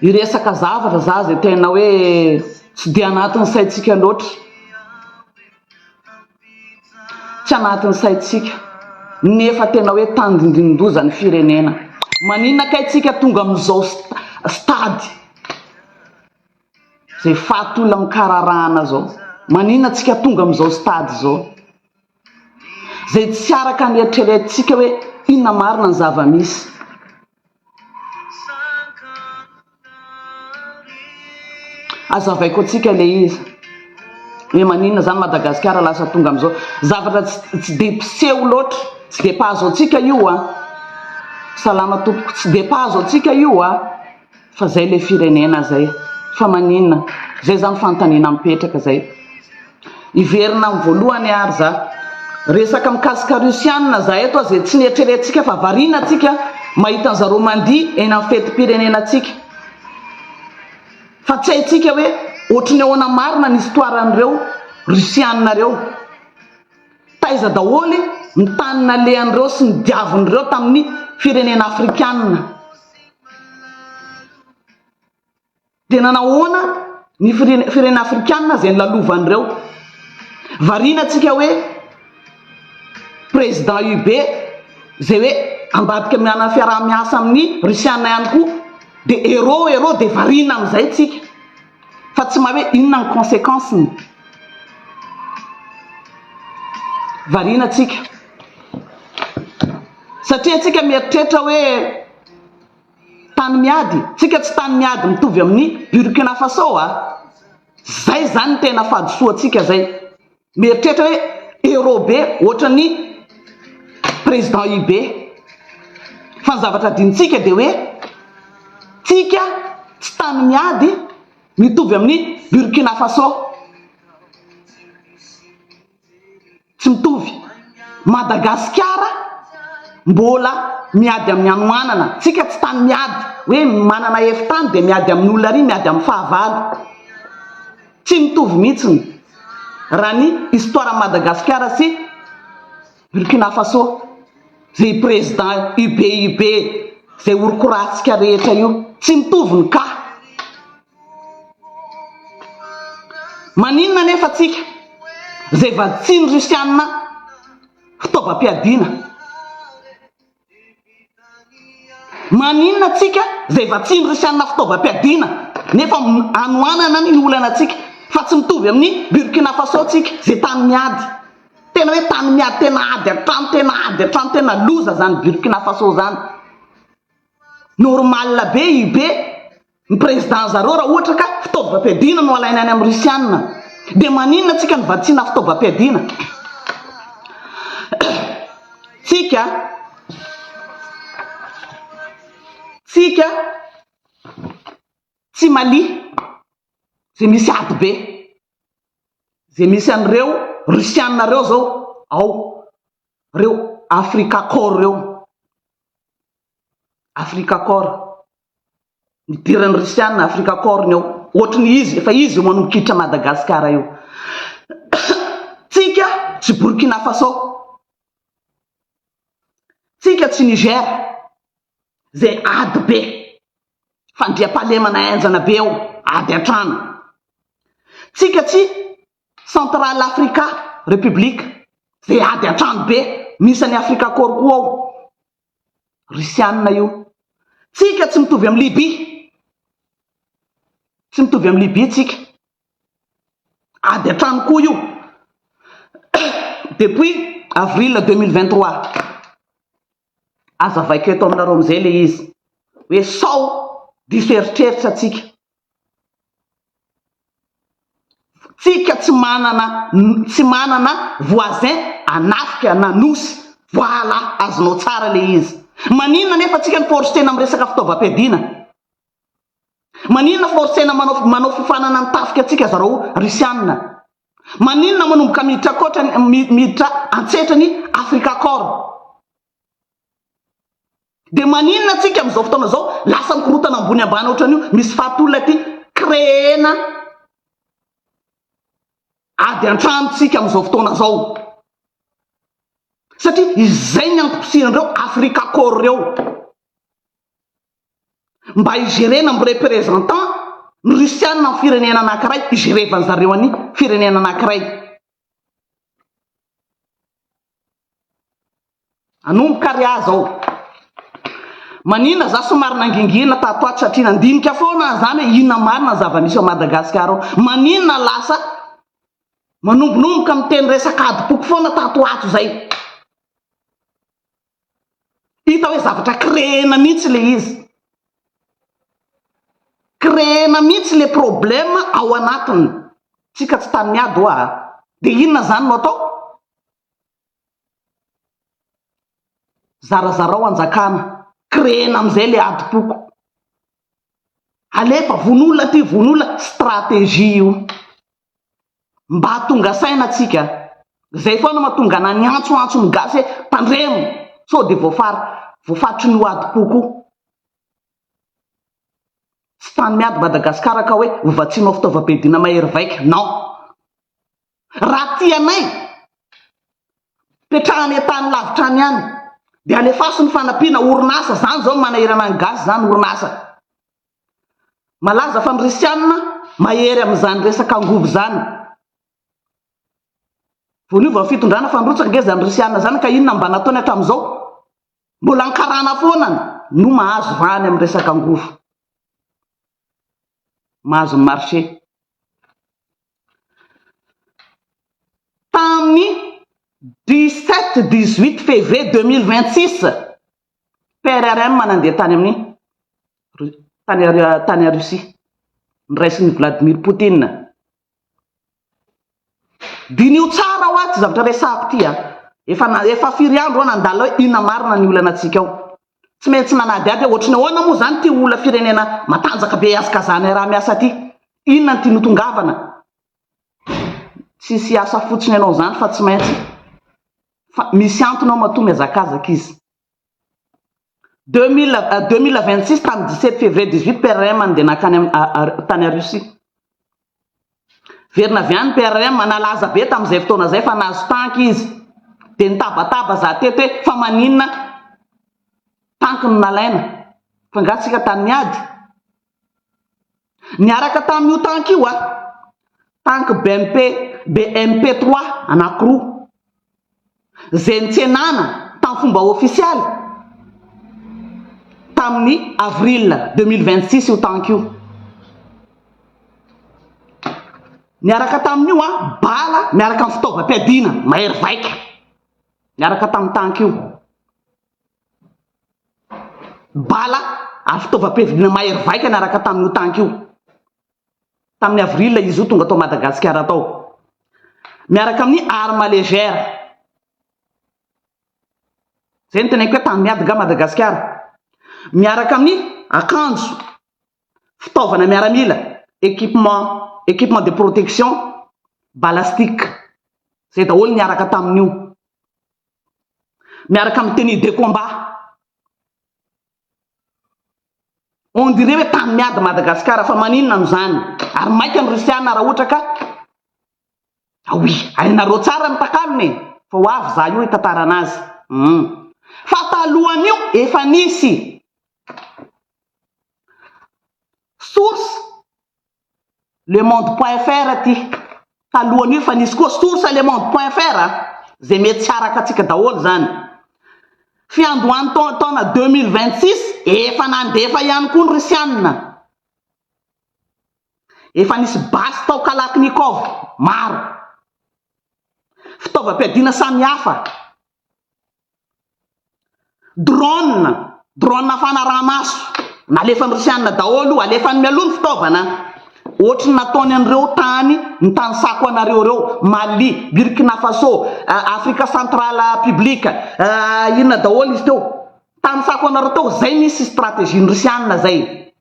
Hiresaka zavatra za zay tena hoe tsy dia anatin'ny saintsika loatra. Tsy anatin'ny saintsika nefa tena hoe tandindonin-doza ny firenena. Maninona kay tsika tonga amin'izao stade zay fahatolan-kararahana zao? Maninona tsika tonga amin'izao stade zao? Zay tsy araka ny eritreretintsika hoe inona marina ny zava-misy. Aza avaiko antsika ilay izy. Hoe maninona izany Madagasikara lasa tonga amin'izao. Zavatra tsy dia mpiseho loatra. Tsy dia mpahazo antsika io an. Salama tompoko. Tsy dia mpahazo antsika io an. Fa zay le firenena zay fa maninona zay zany fanontaniana mipetraka zay hiverina am voalohany ary za resaka mikasika rusianina za eto aza tsy nietreretsika fa variana tsika mahita ny zareo mandihy eny am fetimpirenena tsika fa tsy haitsika hoe ohatry ny ahoana marina ny histoire an'ireo rusianina reo Taiza daholo ny tany nalehan'ireo sy ny diavin'ireo tamin'ny firenena afrikanina? Dia nanahoana ny firenena afrikanina izay nolalovan'ireo? Variana tsika hoe président UB izay hoe ambadika mianana fiaraha-miasa amin'ny Russiana ihany koa dia héros héros dia variana amin'izay tsika. Fa tsy mahay hoe inona ny consequence ny variana tsika. Satria tsika mieritreritra hoe tany miady. Tsika tsy tany miady mitovy amin'ny Burkina Faso a. Zay zany ny tena fahadisoantsika zay. Mieritreritra hoe héros be ohatran'ny président Ybe. Fa ny zavatra adinontsika dia hoe tsika tsy tany miady mitovy amin'ny Burkina Faso. Tsy mitovy. Madagasikara mbola miady amin'ny hanoanana. Tsika tsy tany miady hoe manana efi-tany dia miady amin'ny olona ary miady amin'ny fahavalo. Tsy mitovy mihitsy raha ny histoire an'i Madagasikara sy Burkina Faso izay président UBUB izay horokorantsika rehetra io. Tsy mitovy ny cas. Maninona anefa tsika izay vatsian'ny Russiana fitaovam-piadiana? Maninona tsika izay vatsian'ny Risianina fitaovam-piadiana nefa anohanana ny olana tsika fa tsy mitovy amin'ny Burkina Faso tsika izay tany miady tena hoe tany miady tena ady an-trano tena ady an-trano tena loza izany Burkina Faso izany normal be UB ny président zareo raha ohatra ka fitaovam-piadiana no alaina any amin'ny russiana dia maninona tsika no vatsiana fitaovam-piadiana tsika tsika tsy malia zay misy ady be zay misy an'ireo russiana reo zao ao reo afrika corps reo afrika corps nidiran'ny Risiana Africa Corn ao, ohatry ny izy efa izy eo manomboka hiditra Madagasikara eo. Tsika tsy Burkina Faso, tsika tsy Niger, izay ady be, fandriampahalemana henjana be ao, ady an-trano. Tsika tsy Central Africa Republic, izay ady an-trano be, misy an'i Africa Corn koa ao. Rusiana io. Tsika tsy mitovy am Libye. Tsy mitovy am Libye tsika. Ady an-trano koa io. Depuis avril deux mille vingt trois. Azavaiko eto aminareo amizay le izy. Hoe sao diso eritreritra tsika. Tsika tsy manana tsy manana voisin hanafika na nosy. Voila azonao tsara le izy. Maninona nefa tsika no forcena am resaka fitaovam-piadiana? Maninona forcena manao manao fifanana ny tafika tsika zarao Russiana? Maninona manomboka miditra akoatra miditra antsetra ny Africa Corps? Dia maninona tsika amin'izao fotoana izao lasa mikorotana ambony ambany ohatran'io, misy fahatolona aty, créer-na ady an-trano tsika amin'izao fotoana izao. Satria izay ny antom-pisian'ireo Afrikacorps ireo. Mba hi-gérer-na amin'ny représentant ny Russiana amin'ny firenena anankiray, hi-gérer-van-dry zareo an'i firenena anankiray. Nanomboka ary aho zao manina za somary nangingina tato ato satria nandinika foana aho zany hoe inona marina ny zava-misy ao Madagasikara ao. Maninona lasa manombonomboka miteny resaka adim-poko foana tato ato zay. Hita hoe zavatra créena mihitsy ilay izy. Créena mihitsy ilay problème ao anatiny. Tsika tsy tany miady ho'a a! Dia inona izany no atao? Zarazarao hanjakana. Créena amin'izay ilay adim-poko. Alefa, vono olona aty, vono olona. Stratégie io. Mba tonga saina tsika. Zay foana matonga ana niantso antso ny gasy hoe tandremo sao de voafary voafaritry ny hoadim-po koa. Tsy tany miady Madagascar ka hoe hovatsianao fitaovam-piadiana mahery vaika. Non. Raha tia anay, petrahany an-tany lavitra any ihany. De alefaso ny fanampiana, orinasa, zany zao no manahirana ny gasy zany, orinasa. Malaza fa ny Risianina mahery amin'izany resaka angovo izany. Vao niova ny fitondrana fa nirotsaka ange izany Risianina izany ka inona no mba nataony hatramin'izao? Mbola ny karana foana no mahazo vahany amin'ny resaka angovo. Mahazo ny marché. Tamin'ny dix-sept, dix-huit février deux mille vingt-six, PRRM nandeha tany amin'ny tany Russie, noraisin'i Vladimir Poutine. Diniho tsara hoa ity zavatra resahako ity a! Efa na, efa firy andro hoa nandalo hoe inona marina ny olanantsika ao? Tsy maintsy nanadihady hoe ohatry ny ahoana moa izany ity olona firenena matanjaka be ihazakazahanay raha miasa ity? Inona ny tiany hotongavana? Tsisy hiasa fotsiny ianao izany fa tsy maintsy fa misy antony ao matoa mihazakazaka izy. 2026 tamin'ny 17 février 18 PRM nandeha nankany tany Russie. Verina avy any PRM nalaza be tamin'izay fotoana izay fa nahazo tanky izy. Dia nitabataba za teto hoe fa maninona tanky no nalaina? Fa nga tsika tamin'ny ady? Niaraka tamin'io tank io a, tank BMP, BMP trois anankiroa, izay nitsenana tamin'ny fomba ofisialy tamin'ny avril deux mille vingt six io tank io. Niaraka tamin'io a, bala miaraka amin'ny fitaovam-piadiana mahery vaika, niaraka tamin'ny tank io. bala ary fitaovam-piadiana mahery vaika niaraka tamin'io tanky io, tamin'ny avril izy io tonga tao Madagasikara tao, miaraka amin'ny arme légère. Izay no teneniko hoe tany miady angaha Madagasikara, miaraka amin'ny akanjo. fitaovana miaramila, équipement, équipement de protection, balastiques, izay daholo niaraka tamin'io. Miaraka amin'ny tenue de combat. On dirait hoe tany miady Madagasikara fa maninona no izany? Ary maika ny Risiana raha ohatra ka Aoia! Hainareo tsara ny takalony e! Fa ho avy za io hitantara anazy. Hum. Fa talohan'io efa nisy. Source, lemonde point fr aty. Talohan'io efa nisy koa. Source, lemonde point fr a. Zay mety tsy araka antsika daholo zany. Fiandohan'ny taona deux mille vingt six efa nandefa ihany koa ny Risianina. Efa nisy basy tao Kalachnikov maro, fitaovam-piadiana samihafa, drone, drone fanaraha-maso, nalefan'ny Rosiana daholo io, alefany mialoha ny fitaovana ohatry ny nataony an'ireo tany nitanisako anareo ireo, Mali, Burkina Faso, Afrika central public, inona daholo izy teo, nitanisako anareo teo, izay nisy stratégie-n'ny Rosiana izay.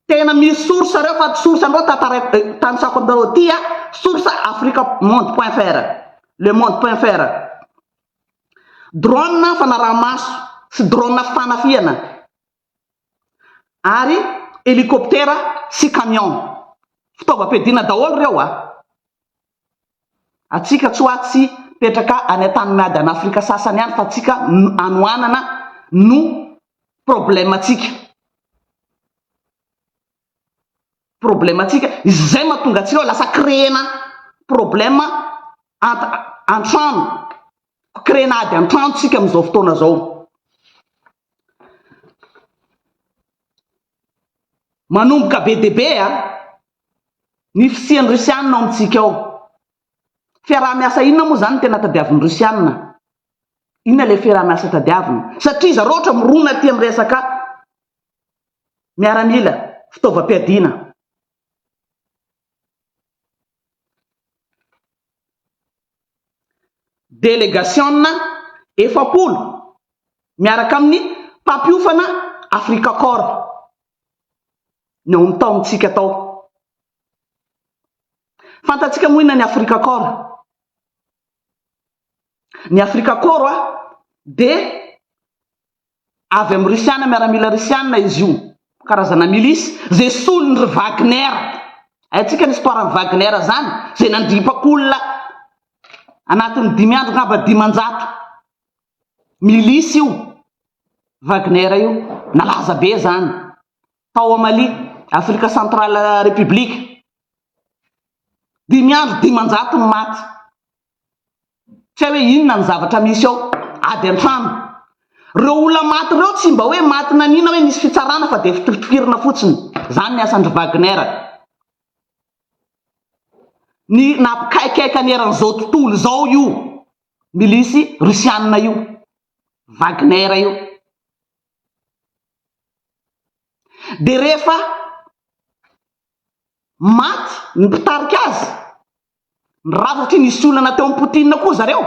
Tena misy source areo fa tsy source anareo tantaraiko tanisako aminareo aty a! Source africa monde point fr, le monde point fr. Drone fanaraha-maso sy drone fanafihana ary hélicoptère sy camion. Fitaovam-piadiana daholo ireo a! Antsika tsy hoa tsy petraka any an-tany miady an' Afrika sasany any fa antsika anoanana no problème antsika. Problème antsika izay mahatonga antsika hoe lasa créena problème ant an-trano, créena ady an-trano tsika amin'izao fotoana izao. Manomboka be dia be a! Ny fisian'ny Rusiana ao amintsika ao. Fiaraha-miasa inona moa izany no tena tadiavin'ny Rusiana? Inona ilay fiaraha-miasa tadiaviny? Satria zareo ohatra mirona aty amin'ny resaka miaramila, fitaovam-piadiana. Delegasiona efapolo miaraka amin'ny mpampiofana Africa Corps ny ao amin'ny taomintsika tao. Fantatsika moa inona ny Africa Corps? Ny Africa Corps dia Avy amin'ny Risiana, miaramila Risiana izy io, karazana milice, izay solon'ny ry Wagner. Haintsika ny histoire an'i Wagner izany, izay nandripaka olona anatin'ny dimy andro angamba dimanjato. Milice io, Wagner io, nalaza be izany, tao à Mali, Afrika Centrale République. Dimy andro dimanjato ny maty. Tsy hay hoe inona ny zavatra misy ao ady an-trano. Ireo olona maty ireo tsy mba hoe maty naniana hoe nisy fitsarana fa dia fitofitofirina fotsiny. Izany ny asan-dry Wagner. Ny nampikaikaika ny eran'izao tontolo izao io milisy Rusiana io, Wagner io. Dia rehefa Maty ny mpitarika azy. Ny rava satria nisy olana teo amin'i Poutine koa zareo.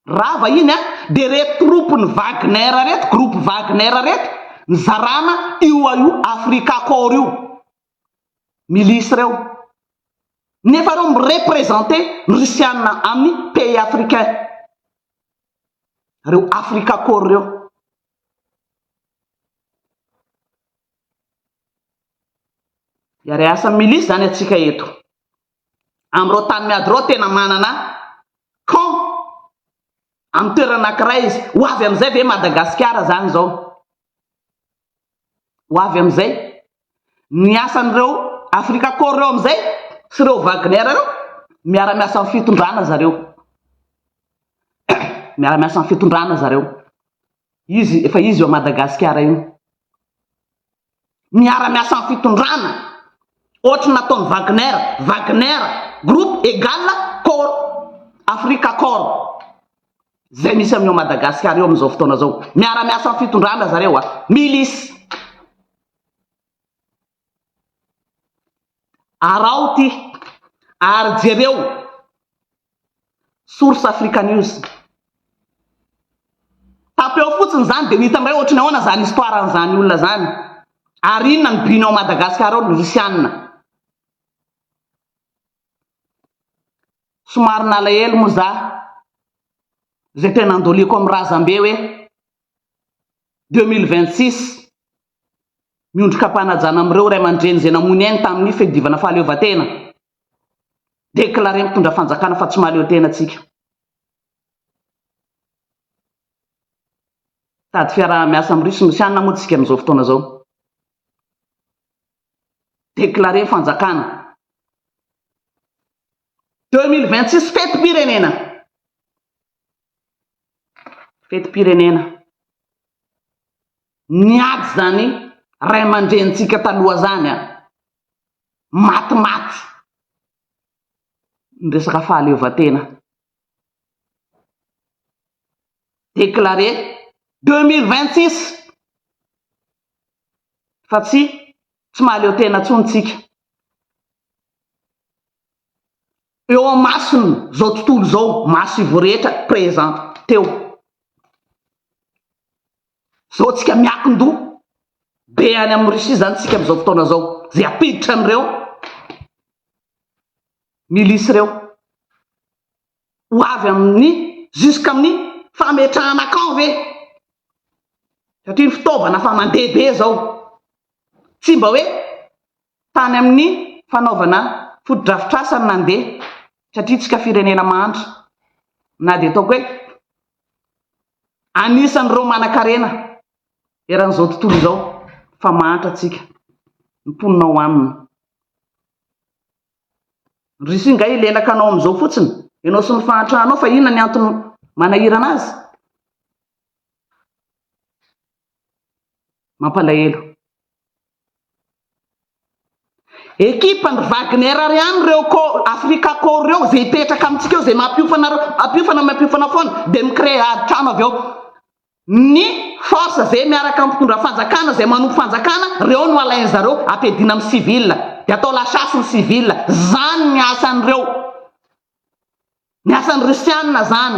Rava iny an! Dia reto troupes ny Wagner reto, groupe Wagner reto, nizarana io a io Africa Corps io. Milice ireo. Nefa ireo mi-representer ny Russiana amin'ny pays africain. Ireo Africa Corps ireo. Hiaray asa milisy izany antsika eto. Amin'ireo tany miady ireo tena manana camp amin'ny toerana anankiray izy. Ho avy amin'izay ve Madagasikara izany izao? Ho avy amin'izay? Ny asan'ireo Afrika Corps ireo amin'izay sy ireo Wagner ireo, miara-miasa amin'ny fitondrana zareo. Miara-miasa amin'ny fitondrana zareo. Izy, efa izy eo Madagasikara io. miara-miasa amin'ny fitondrana, ohatry ny nataon'i Wagner, Wagner group egal corps, Africa corps, izay misy amin'i ao Madagasikara eo amin'izao fotoana izao, miara-miasa amin'ny fitondrana zareo, milice. Araho ity ary jereo source africanews. Tapy ao fotsiny izany dia ho hita indray ohatry ny ahoana izany histoire an'izany olona izany ary inona ny but-ny ao Madagascar ao ny Rosiana. Somary nalahelo moa za izay tena andoliako amin'ny razambe hoe deux mille vingt six miondrikam-panajana amin'ireo ray aman-dreny izay namoy ny ainy tamin'ny fiadiovana fahaleovantena. Déclarer mitondra fanjakana fa tsy mahaleo tena antsika. Tady fiaraha-miasa amin'ny Russie Rosiana moa tsika amin'izao fotoana izao. Déclarer fanjakana. 2026 fetim-pirenena. Fetim-pirenena. Niady izany ray aman-drenintsika taloha izany an! Maty maty ny resaka fahaleovantena. Déclaré deux mille vingt six fa tsy tsy mahaleo tena intsony tsika. Eo amasony izao tontolo izao, maso ivo rehetra, présent, teo. Zao tsika miakindoha be any am Russie zany tsika amzao fotoana zao ze apiditra anreo milice reo ho avy aminy jusqu'aminy fametrahana camp ve satria ny fitaovana fa mandeha be zao tsy mba hoe tany aminy fanaovana fotodrafitrasa no nandeha satria tsika firenena mahantra na de ataoko hoe Anisan'ireo manankarena eran'izao tontolo izao fa mahantra antsika ny mponina ao aminy. Ry Sy ngay lelaka anao amin'izao fotsiny ianao sy ny fahantranao fa inona ny antony manahirana azy? Mampalahelo. Ekipa n'i Wagner ary any ireo ko Africa Corps ireo izay hipetraka amintsika eo izay mampiofana ireo mampiofana mampiofana foana dia mi-créer ady trano avy eo ny force izay miaraka amin'ny mpitondra fanjakana izay manompo fanjakana ireo no alain zareo ampiadiana amin'ny civil dia atao la chasse ny civil izany ny asan'ireo ny asan'ny russiana izany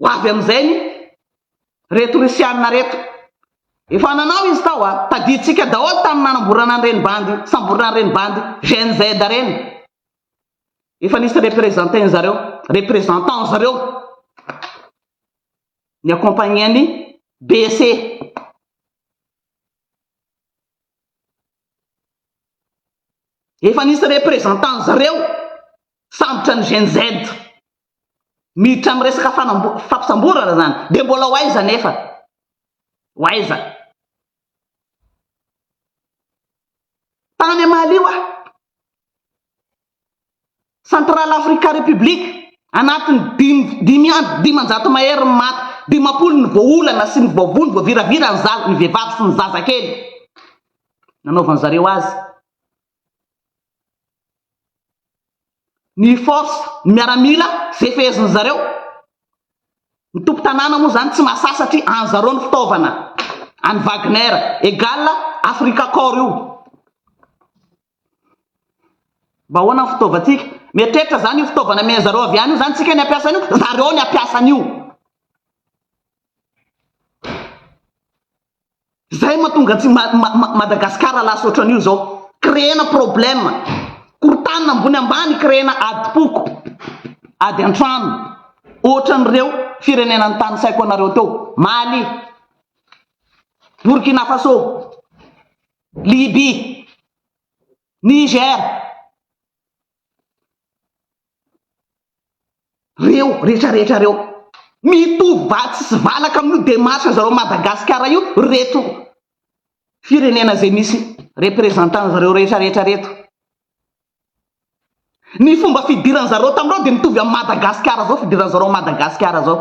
Ho avy amin'izay ny reto Rusiana reto. Efa nanao izy tao a, tadidintsika daholo tamin'ny nanamborana an'ireny bandy, samborina an'ireny bandy GNZ ireny. Efa nisy représentant zareo, représentant zareo ny accompagner an'i BC. Efa nisy représentant zareo sambotra ny GNZ. miditra amin'ny resaka fampisamborana izany dia mbola ho aiza anefa? Ho aiza? Tany Amalio aho, Central Africa Republic, anatin'ny dimy dimy andro dimanjato mahery ny maty, dimampolo ny voaolana sy ny voavono, voaviravira ny zaza, ny vehivavy sy ny zazakely. Nanaovan'ny zareo azy Ny force, ny miaramila, ze fehezin'ny zareo. Ny tompo tanàna moa zany tsy mahasahy satria any zareo ny fitaovana, any Wagner, egal Africa corps io. Mba ahoana ny fitaovantsika? Mieritreritra zany io fitaovana amen'ny zareo avy any io zany tsika ny hampiasa an'io? Zareo ny hampiasa an'io. Zay matonga antsy Madagascar lasa otran'io zao. Créena problème. Korotanina ambony ambany créena adim-poko. Ady antrano. Otran'ireo firenena nitanisaiko anareo teo. Mali. Burkina Faso. Libye. Niger. Reo rehetra rehetra reo mitovy vatsy sy valaka amin'io demarche zareo Madagascar io reto firenena zay misy représentant zareo rehetra rehetra reto. Ny fomba fidiran'zareo tamreo de mitovy am Madagascar zao fidiran'zareo Madagascar zao.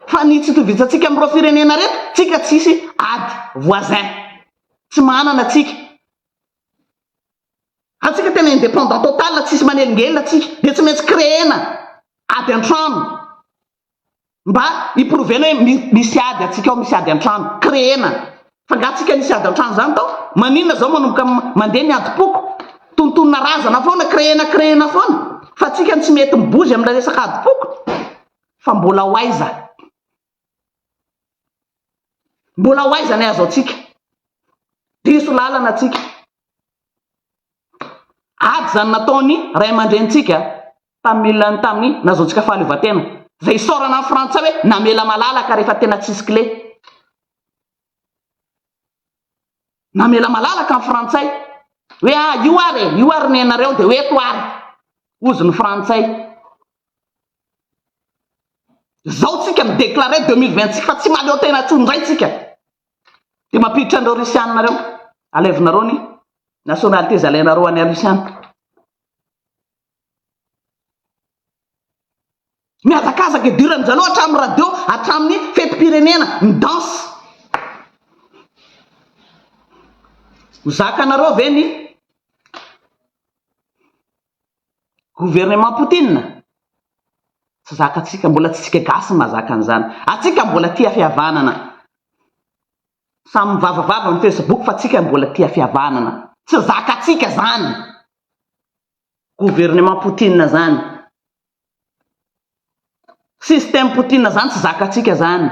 Fa ny tsy itovizantsika amin'ireo firenena reto, tsika tsisy ady, voisin, tsy manana tsika. Antsika tena indépendant total, tsisy manelingelina tsika, dia tsy maintsy créer-na ady an-trano mba hi-prouver-na hoe misy ady antsika ao, misy ady an-trano, créer-na. Fa nga tsika nisy ady antrano zany tao? Maninona zao manomboka mandeha ny adim-poko? Tontonina razana foana, créena créena foana fa tsika no tsy mety mibozy amina resaka adim-poko? Fa mbola ho aiza? Mbola ho aiza ny azo atsika? Diso lalana tsika. Ady zany nataony ray aman-dreny tsika tamin'ny tamin'ny nazaontsika fahaleovantena. Zay isaorana ny frantsay hoe namela malalaka rehefa tena tsisy kle. Namela malalaka ny Frantsay hoe ah io ary e, io ary nenareo dia ho eto ary, hozy ny Frantsay. Izao tsika mi-declarer deux mille vingt six fa tsy mahaleo tena intsony indray tsika. Dia mampiditra an'ireo Rusiana ireo, alevinareo ny nationalités alainareo any Rusiana. Mihazakazaka idirany zareo hatramin'ny radio, hatramin'ny fetim-pirenena, midanse. Ho zakanareo ve ny gouvernement Poutine? Tsy zakantsika, mbola tsy tsika gasy mahazaka an'izany. Atsika mbola tia fihavanana. Samy mivavavava amin'ny facebook fa tsika mbola tia fihavanana. Tsy zakantsika zany. Gouvernement Poutine zany. Système Poutine zany tsy zakatsika zany.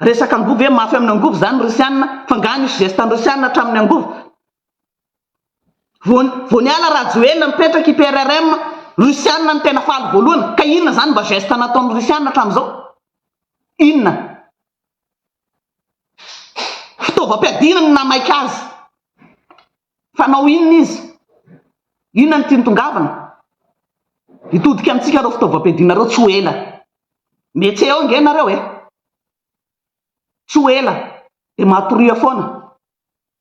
Resaka angovo ve mafy aminy angovo zany ny Russiana fa nga nisy geste any Russiana atraminy angovo? Vao vao niala Rajoelina nipetraka i PRRM Russiana no tena faly voalohany ka inona zany mba geste nataony Russiana atramizao? Inona? Fitaovam-piadiana no namaika azy. Fanao inona izy? Inona no tiany tongavana? Hitodika amintsika ireo fitaovam-piadiana ireo tsy ho ela. Metse eo ange ianareo e! Tsy ho ela dia matoria foana.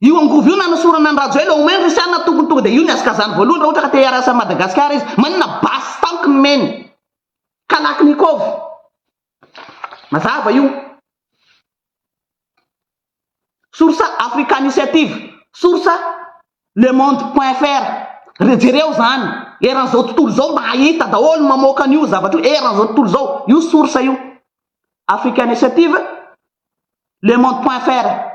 Io angovo io nanosorana an'i Rajoel au moins Russian tokony tonga dia io ny hazakazany voalohany raha ohatra ka te hiarasa an'i Madagascar izy. Maninona basy tampoky ny meny. Kalachnikov. Mazava io. Source Africaniciative. Source Le Monde point fr. Re- Jereo izany. Eran'izao tontolo izao mba hahita daholo ny mamoaka an'io zavatra io eran'izao tontolo izao. Io source io. Africa Initiative, Le Monde Point Fr,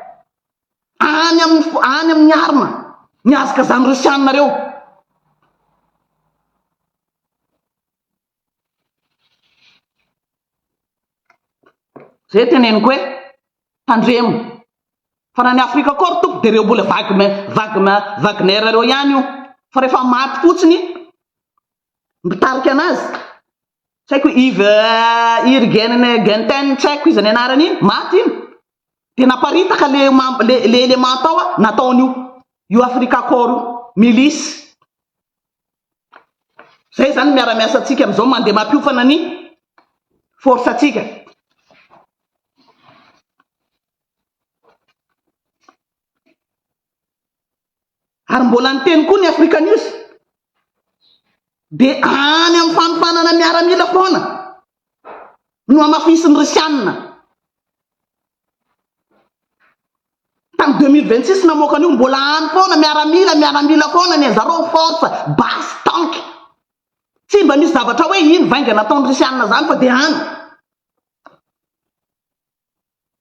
Any amin'ny any amin'ny arme ny hazakazan'ny Rosiana reo. Zay teneniko hoe tandremo fa na ny Afrika koa ry tompoko dia ireo mbola Wagner Wagner Wagner reo ihany io fa rehefa maty fotsiny mpitarika anazy tsy haiko Yves Irgenegenten tsy haiko iza ny anarany iny maty iny dia naparitaka le le élément tao a nataon'io io Africa Corps io milice zay zany miara-miasa antsika amin'izao mandeha mampiofana ny force antsika Ary mbola niteny koa ny Africa News dia any amin'ny fanofanana miaramila foana no hamafisin'ny Risianina. Tamin'ny 2026 namoaka an'io mbola any foana miaramila, miaramila foana ny anjareo force basse tank. Tsy mba misy zavatra hoe iny vainga nataon'ny Risianina izany fa dia any.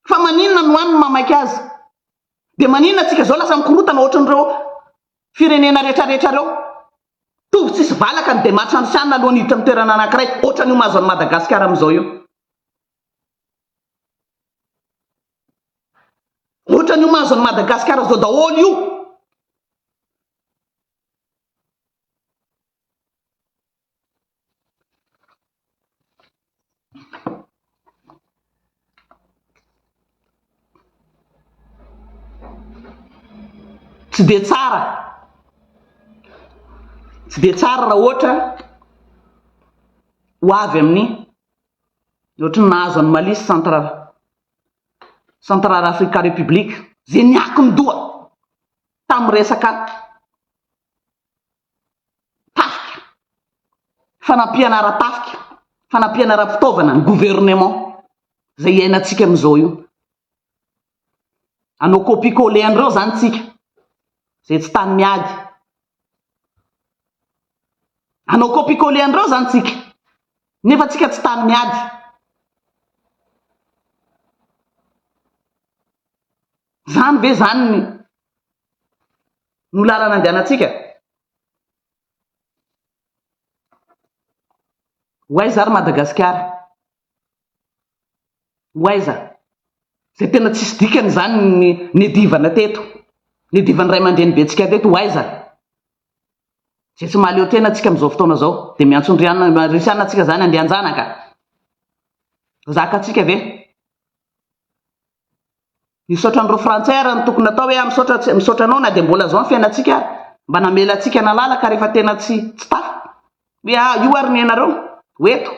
Fa maninona no any no mamaika azy? Dia maninona antsika izao lasa mikorotana ohatran'ireo firenena rehetrarehetra ireo? Tovy tsisy valaka ny demarche ansianina alohan'ny hiditra amin'ny toerana anankiray, ohatran'io mahazo an'i Madagasikara amin'izao io. Ohatran'io mahazo an'i Madagasikara izao daholo io. Tsy dia tsara, tsy dia tsara raha ohatra ho avy amin'ny ohatry ny nahazo an'i Mali sy Central Central Africa République, izay niakin-doha tamin'ny resaka. tafika, fanampiana ara-tafika, fanampiana ara-pitaovana ny gouvernement izay iainantsika amin'izao io. Hanao copie coller an'ireo izany tsika izay tsy tany miady. Hanao copie coller an'ireo izany tsika nefa tsika tsy tany miady. Izany ve izany ny no lalana andehanantsika. Ho aiza ary Madagasikara? Ho aiza? Izay tena tsisy dikany izany ny nedivana teto, nedivan'ny ray aman-dreny bentsika teto, ho aiza? Izay tsy mahaleo tena antsika amin'izao fotoana izao, dia miantso an-dry Risiana antsika izany andeha an-janaka. Zaka antsika ve? Misaotra an'ireo frantsay ary ny tokony atao hoe ah misaotra tsy misaotra anao na dia mbola zao ny fiainantsika ary mba namela antsika nalala ka rehefa tena tsy tsy tafa hoe ah io ary ny anareo ho eto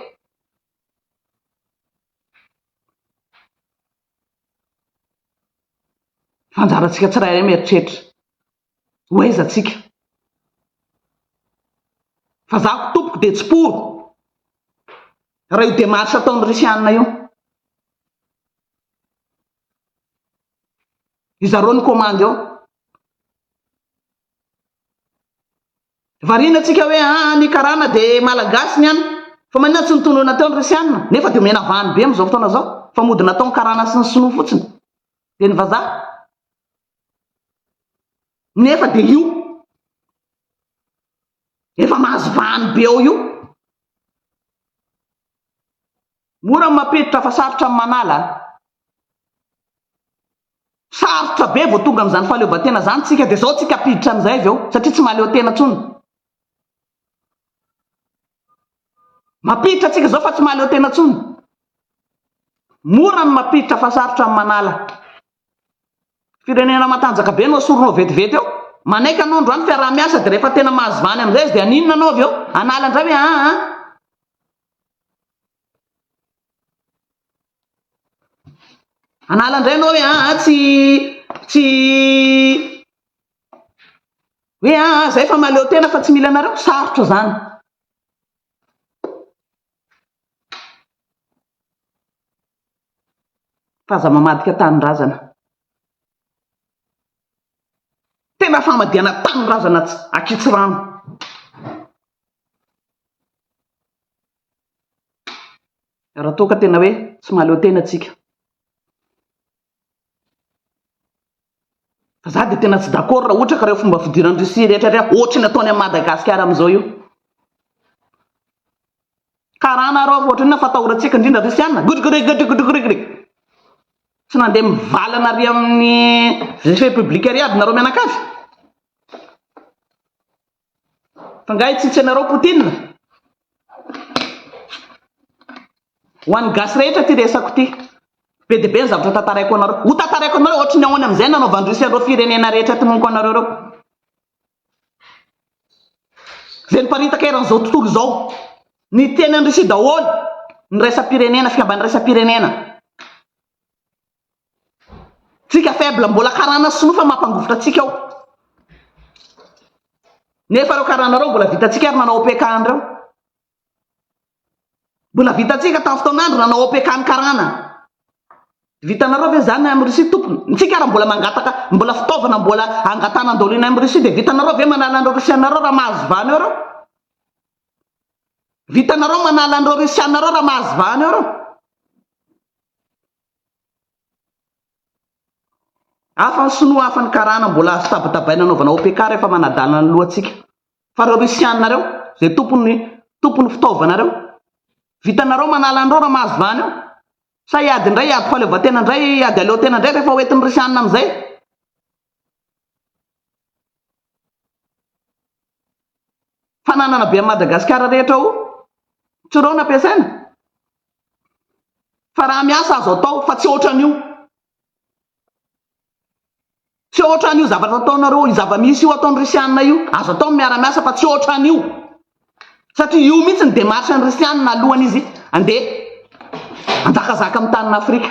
fa anjarantsika tsirairay mieritreritra ho aiza antsika? Fa za ko tompoko dia tsy pour raha io demarche ataon'i Russiana io. Ry zareo ny komandy ao. Variana antsika hoe aa ny karana dia malagasy ny any. Fa maninona tsy nitonona teo ny Russiana? Nefa dia omena vahany be amin'izao fotoana izao fa mody nataony karana sy ny sinoa fotsiny. Dia ny vazaha? nefa dia io efa mahazo vahany be ao io, mora ny mampiditra fa sarotra ny manala an! sarotra be vao tonga amin'izany fahaleovantena izany tsika dia izao tsika ampiditra amin'izay avy eo satria tsy mahaleo tena intsony. Mampiditra antsika izao fa tsy mahaleo tena intsony. Mora ny mampiditra fa sarotra ny manala. Firenena matanjaka be no asorinao vetivety eo. Manaiky anao androany fiaraha-miasa dia rehefa tena mahazo vany amin'izay izy dia haninona anao avy eo? Hanala indray hoe aa a. Hanala indray ianao hoe aa tsy tsy Hoe aa ah, zay fa mahaleo tena fa tsy mila anareo, sarotra zany. Fa aza mamadika tanindrazana. Tena famadihana tanindrazana akitsy rano. Raha toa ka tena hoe tsy mahaleo tena tsika. Fa za dia tena tsy d'accord raha ohatra ka ireo fomba fidiran'i Russie rehetra ireo ohatra ny ataony an'i Madagasikara amin'izao io. Karana arô fa ohatrinona fa atahorantsika indrindra Russiana. Gudgurigg gudgurigg. Tsy nandeha mivalana ry amin'ny République ry aby nareo mianakavy. Fa nga tsy tsy anareo Poutine? Ho an'ny gasy rehetra ity resako ity. Be dia be ny zavatra tantaraiko anareo. Ho tantaraiko anareo ohatry ny ahoana amin'izay nanaovan'ny Russie an'ireo firenena rehetra tononiko anareo ireo. Izay niparitaka eran'izao tontolo izao. Ny teny an'i Russie daholo. Ny iraisam-pirenena, fikamban'iraisam-pirenena. Tsika faible mbola karana sinoa fa mampangovitra antsika ao. Nefa reo karana reo mbola vitantsika ary nanao OPK any reo. Mbola vitantsika tamin'ny fotoan'andro nanao OPK any karana. Vitanareo ve zany am Russie tompony? Ntsika raha mbola mangataka mbola fitaovana mbola angatana andao lena am Russie de vitanareo ve manala an'ireo Russianareo raha mahazo vahana eo reo? Vitanareo manala an'ireo Russianareo raha mahazo vahana eo reo? Hafa ny sinoa hafa ny karana mbola azo tabatabaina anaovana OPK rehefa manadalana ny lohantsika. Fa reo russiana reo zay tompony tompony fitaovana reo. Vitanareo manala anreo ra mahazo vahana eo. Sa hiady ndray hiady fahaleovantena ndray hiady aleotena ndray rehefa hoentiny russiana amzay. Fananana be an'i Madagasikara rehetra ao Tsirao no ampiasaina? Fa raha miasa azo atao fa tsy ohatran'io. Tsy ohatran'io zavatra ataonareo, io zava-misy io ataon'ny Risianina io. Azo atao ny miara-miasa fa tsy ohatran'io. Satria io mihitsy ny démarche-n'ny Risianina alohan'izy andeha hanjakazaka amin'ny tanin'Afrika.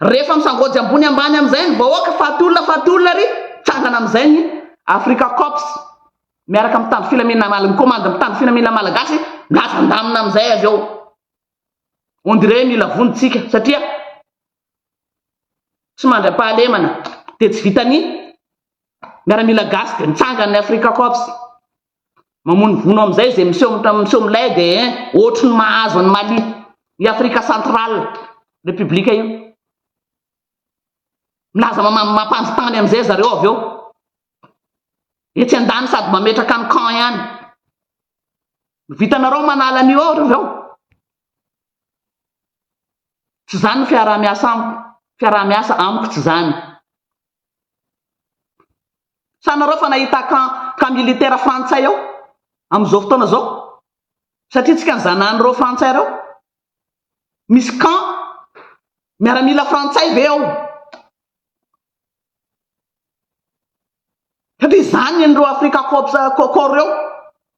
Rehefa misangoajy ambony ambany amin'izay ny vahoaka, faty olona, faty olona ary mitsangana amin'izay ny Africa Corps miaraka amin'ny mpitandro filaminana mal, ny Komandy mpitandro filaminana malagasy milaza an-damina amin'izay avy eo. On dirait mila vonotsika satria tsy mandra-pahalemana dia tsy vitan'ny miaramila gasy dia mitsangana ny Africa Corps. Mamono vono amizay ze miseho miseho milay de hein ohatry ny mahazo an'i Mali, i Afrika central repiblika io. Milaza mamam mampanjo tany amizay zareo avy eo. Etsy andany sady mametraka ny camp ihany. Vitanareo manala an'io ao ry reo. Tsy zany ny fiaraha-miasa amiko, fiaraha-miasa amiko tsy zany. Sanareo fa nahita camp camp militaire frantsay ao amin'izao fotoana izao? Satria tsika nizanan'ireo frantsay ireo? Misy camp miaramila frantsay ve ao? Satria izany ireo Africa Corps Corps ireo,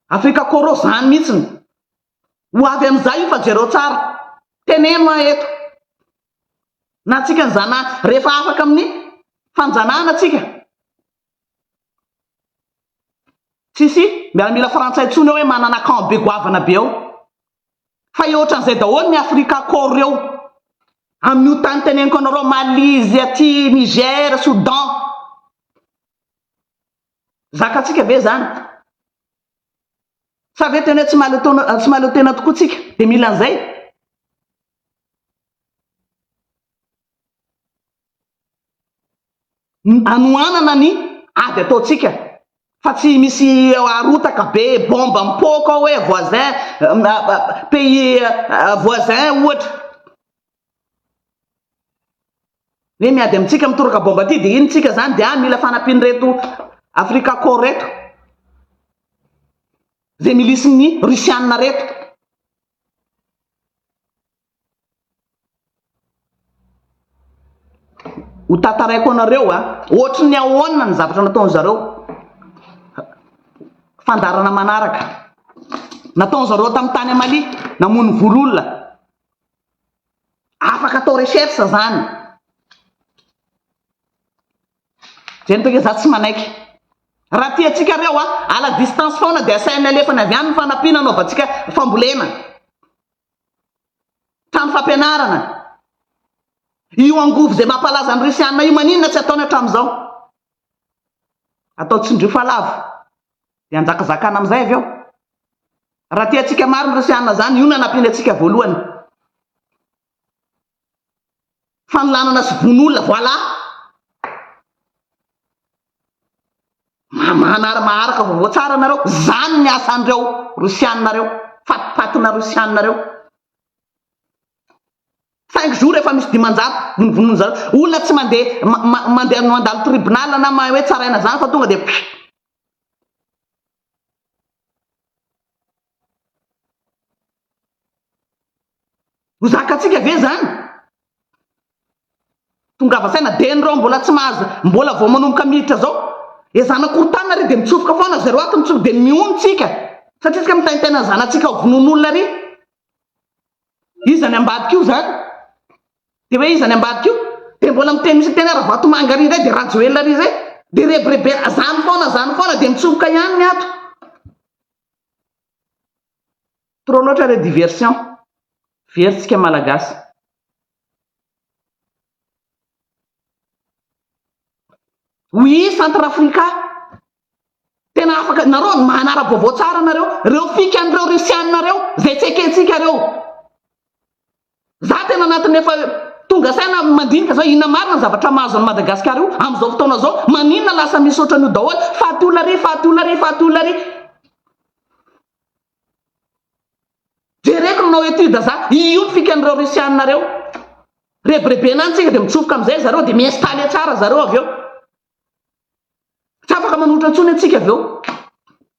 Africa Corps ireo izany mihitsy ny Ho avy amin'izay io fa jereo tsara. Teneno aho eto. Na antsika ny zana rehefa afaka amin'ny fanjanahana tsika. Tsisy miaramila frantsay tsony ao hoe manana camp be goavana be ao. Fa eo otran'izay daholo ny afrika koro reo. Amin'io tany teneniko anareo Mali izy aty Niger, Soudan. Zaka tsika ve zany? Fa ve tena tsy mahaleo taona, tsy mahaleo tena tokoa tsika dia mila an'izay? Hanohanana ny ady ataontsika fa tsy misy arotaka be bomba mipoaka ao hoe voisin pays voisin ohatra. Hoe miady amintsika mitoraka baomba aty dia iny tsika zany dia any mila fanampian'ireto Africa Corps reto. Zay milisin'ny Russiana reto. ho tataraiko anareo a ohatry ny ahoana ny zavatra nataony zareo fandarana manaraka nataony zareo tamin'ny tany amalia namono vololona Afaka atao recherche izany. Zay miteny hoe za tsy manaiky. Raha tiantsika reo a, à la distance foana dia asaina alefany avy any ny fanampiana anaovantsika fambolena. Trano fampianarana. Io angovo izay mampalaza ny Risianina io maninona tsy ataony hatramin'izao? Atao tsindrio fa lavo. Dia hanjakazakana amin'izay avy eo. Raha tiantsika maro ny Rosiana izany, io no hanampiany antsika voalohany. Fanolanana sy vono olona, voilà! Manary maharaka vaovao tsara nareo, izany ny asan'ireo Rosiana ireo, fatipatina Rosiana ireo. Cinq jours efa misy dimanjato vonovonoiny zareo. Olona tsy mandeha ma- ma- mandeha no mandalo tribunal na mahay hoe tsaraina zany fa tonga dia pff. Ho zakantsika ve zany? Tongava saina dia nireo mbola tsy mahazo mbola vao manomboka miditra zao. Ezana korontana ary dia mitsofoka foana zareo ato mitsofoka dia mihono tsika. Satria tsika mitaintaina ny zanatsika ho vonoin'olona ary. Iza ny ambadika io zany? Dia hoe iza ny ambadika io? Dia mbola miteny misy miteny Ravatomanga ary indray dia Rajoelina ary izay. Dia rebirebena izany foana izany foana dia mitsofoka ihany ny ato. Trop loatra le diversion. Very tsika malagasy. Oui, centre africa. Tena afaka nareo manara-baovao tsara nareo, reo fikan'ireo russiana reo zay tsy ekentsika reo. Za tena anatin'ny efa tonga saina mandinika zao inona marina ny zavatra mahazo an'i Madagasikara io amin'izao fotoana zao, maninona lasa misaotra an'io daholo, faty olona ry, faty olona ry, faty olona ry. Jereko ny nanao étude za, io ny fikan'ireo russiana reo. Rebirebena any tsika dia mitsofoka amin'izay zareo dia mi-installer tsara zareo avy eo. Tsy afaka manohitra intsony antsika avy eo.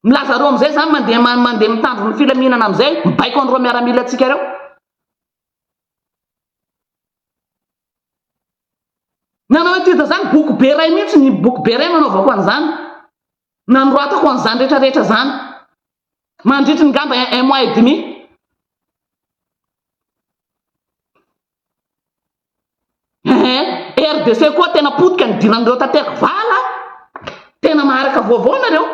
Milaza roa amin'izay izany mandeha mandeha mitandro ny filaminana amin'izay mibaiko an'ireo miaramila antsika ireo. Nanao étude zany boky be ray mihitsy ny boky be ray nanaovako an'izany. Nanoratako an'izany rehetra rehetra zany. Mandritry ny gamba un mois et demi. Eeh RDC koa tena potika nidiran'ireo tanteraka vala a! Tena maharaka vaovao nareo.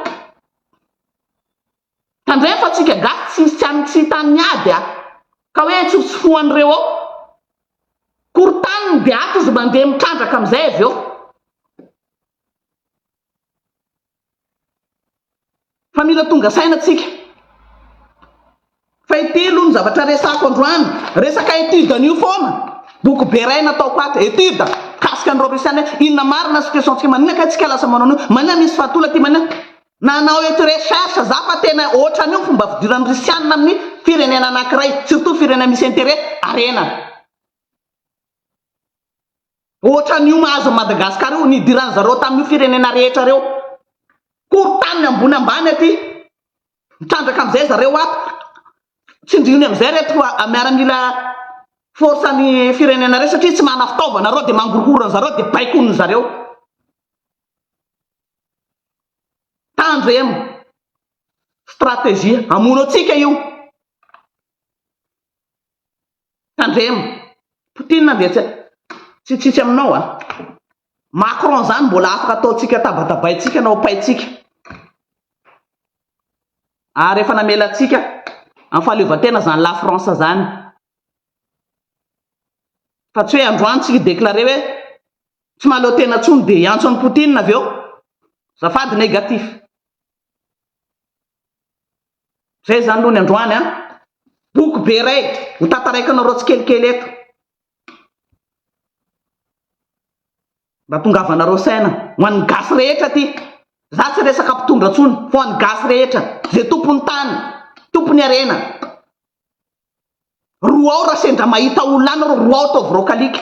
Tandremo fa tsika gasy tsy hisy tsy any tsy hita an'ny ady a! Ka hoe tsofotsofohan'ireo ao. Korontany ny beato izy mandeha mitrandraka amin'izay avy eo. Fa mila tonga saina tsika. Fahitelo ny zavatra resako androany, resaka étude anio foana, boky be iray nataoko ato, étude, mikasika an'ireo Russiana hoe inona marina situation tsika, maninona kay tsika lasa manao an'io, maninona misy fahatola aty, maninona, nanao eto recherche za fa tena ohatran'io ny fomba fidiran'ny Russiana amin'ny firenena anankiray, surtout firenena misy intérêt, harena. Ohatran'io mahazo an'i Madagascar io, nidiran'ny zareo tamin'io firenena rehetra reo. Korontaniny ambony ambany aty. Mitrandraka amizay zareo ato. Tsindriony amizay reto miaramila force an'ny firenena reo satria tsy mana fitaovana reo de mangorohoro anzareo de baikonin'ny zareo. Tandremo. Stratégie. Hamono antsika io. Tandremo. Poutine dia tsy tsy tsitsy aminao a. Macron izany mbola afaka ataontsika tabatabaintsika na opaintsika. Ary efa namela antsika amin'ny fahaleovantena izany la France izany. Fa tsy hoe androany tsy hi-declarer hoe tsy mahaleo tena intsony dia hiantso an'i Poutine avy eo. Azafady negatif. Zay zany aloha ny androany an! Boky be iray ho tantaraiko anareo tsikelikely eto. Mba tongavanareo saina ho an'ny gasy rehetra aty. Za tsy resaka mpitondra tsony fa ho an'ny gasy rehetra, ze tompon'ny tany, tompon'ny harena. Roao raha sendra mahita olona any nareo, roao ataovy roa kalika.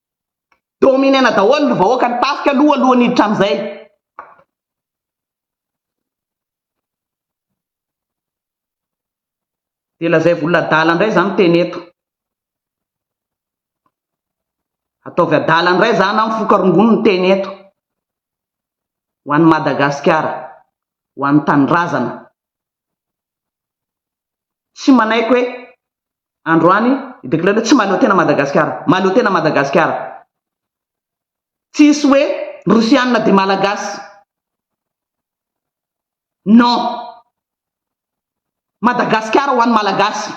Dominer-na daholo ny vahoaka ny tafika aloha alohan'ny hiditra amin'izay. Dia lazaivo olona adala indray za miteny eto. Ataovy adala indray za na mifoka rongony miteny eto. Ho an'i Madagasikara, ho an'ny tanindrazana. Tsy manaiky hoe androany i Declerc hoe tsy mahaleo tena Madagasikara. Mahaleo tena Madagasikara. Tsisy hoe Rosianina dia Malagasy. Non. Madagasikara ho an'ny Malagasy.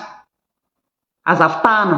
Aza fitahana.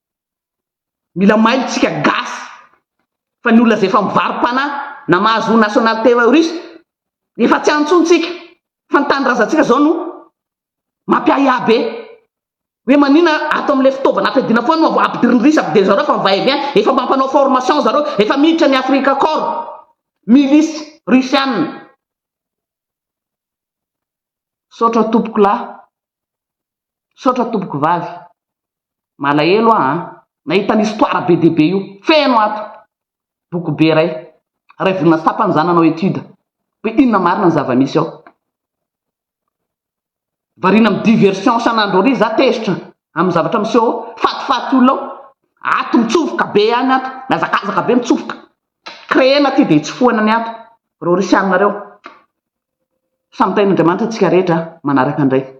Mila mailo tsika gasy fa ny olona zay efa mivarom-panahy na mahazo national terroriste efa tsy antso ntsika fa ny tanindrazantsika zao no mampiahiahy be hoe manina ato amle fitaovana ampiadina foana no ampidiriny risa ampidiry zareo fa va et vient efa mampanao formation zareo efa miditra ny afrika cor milice russiane saotra tompokolahy Misaotra tompoko vavy. Malahelo aho an! Nahita an histoire be dia be io. Feno ato. Boky be iray. Iray volana sy tapany za nanao étude. Hoe inona marina ny zava misy ao. Variana am diversion isan'andro ary za tezitra am zavatra miseho ao. Fatifaty olona ao. Ato mitsofoka be ihany ato. Mihazakazaka be mitsofoka. Créena ty dia hitsofohana ny ato. Rorisy aminareo. Samy tahin'Andriamanitra tsika rehetra a. Manaraka ndray.